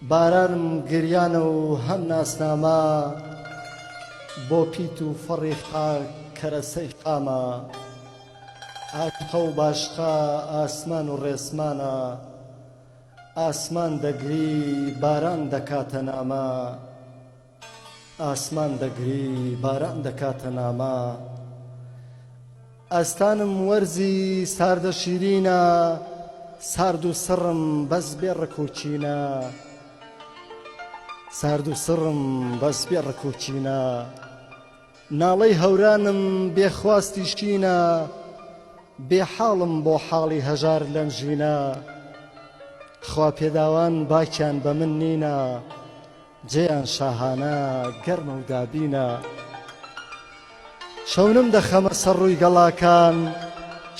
بارانم گریانە و هەم ناسنامە بۆ پیت و فەڕی خاک کەرەسەی خامە ئاشقە و باشقە ئاسمان و ڕێسمانە ئاسمان دەگری باران دەکاتە نامە. ئاسمان دەگری باران دەکاتە نامە. ئەستانم وەرزی ساردە شیرینە. سارد و سڕم بەس بێ ڕک و چینە. سارد و سڕم بەس بێ ڕک و چینە. ناڵەی هەورانم بێ خواستی شینە. بێ حاڵم بۆ حاڵی هەژار لەنژینە. خوا پێداوان باکیان بە من نینە. جێیان شاهانە گەرمە و دابینە شەونم دەخەمە سەر ڕووی گەڵاکان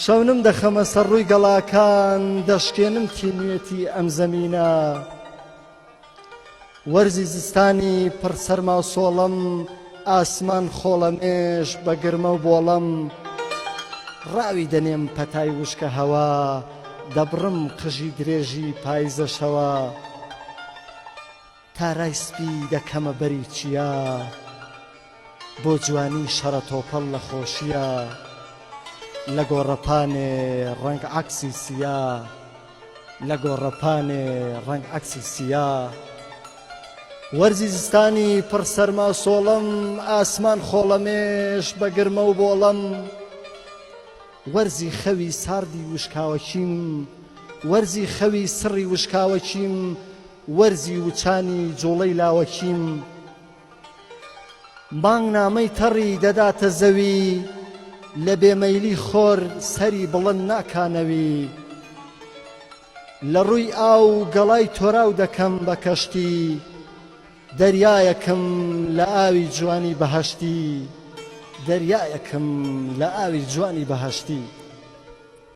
شەونم دەخەمە سەر ڕووی گەڵاکان دەشکێنم تینوێتی ئەم زەمینە وەرزی زستانی پڕ سەرما و سۆڵم ئاسمان خۆڵەمێش بە گرمە و بۆڵم ڕاوی دەنێم پەتای وشکە هەوا دەبڕم قژی درێژی پایزەشەوە. تارای سپی دەکەمە بەری چیا بۆ جوانی شەڕە تۆپەڵ لە خۆشییا لە گۆڕەپانێ ڕەنگ عەکسی سیا لە گۆڕەپانێ ڕەنگ عەکسی سیا وەرزی زستانی پڕ سەرما سۆڵەم ئاسمان خۆڵەمێش بە گرمە و بۆڵەم وەرزی خەوی ساردی وشکاوەچیم وەرزی خەوی سڕی وشکاوەچیم وەرزی وچانی جوڵەی لاوەکیم مانگ نامەی تەڕی دەداتە زەوی لە بێ مەیلی خۆر سەری بڵند ناکانەوی لە ڕووی ئاو گەڵای تۆراو دەکەم بە کەشتی دەریایەکم لە ئاوی جوانی بەهەشتی دەریایەکم لە ئاوی جوانی بەهەشتی.